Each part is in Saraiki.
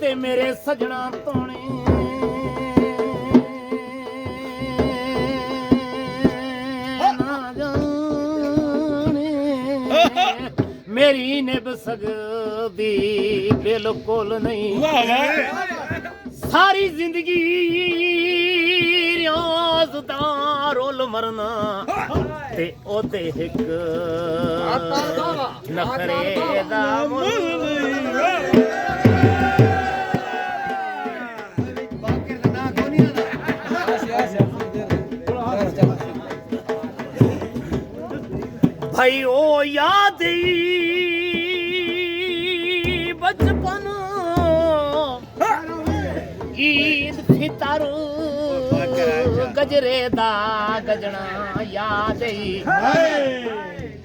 تے میݙے سڄݨاں توݨیں نہ ڄاݨیں میݙی نبھ سڳدی بالکل نئیں واہ واہ ساری زندگی ریاض دا رول مرنا تے او تے ہک بھائی او یاد بچپن عید فطر گجرے دا گجنا یاد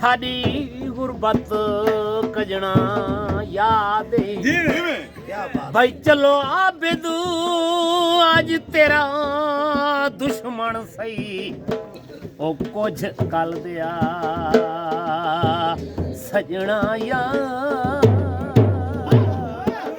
ساݙی غربت کڄݨا یاد اے بھئی چلو عابد اج تیرا دشمن سئی او کچھ کل دیا سجنا یا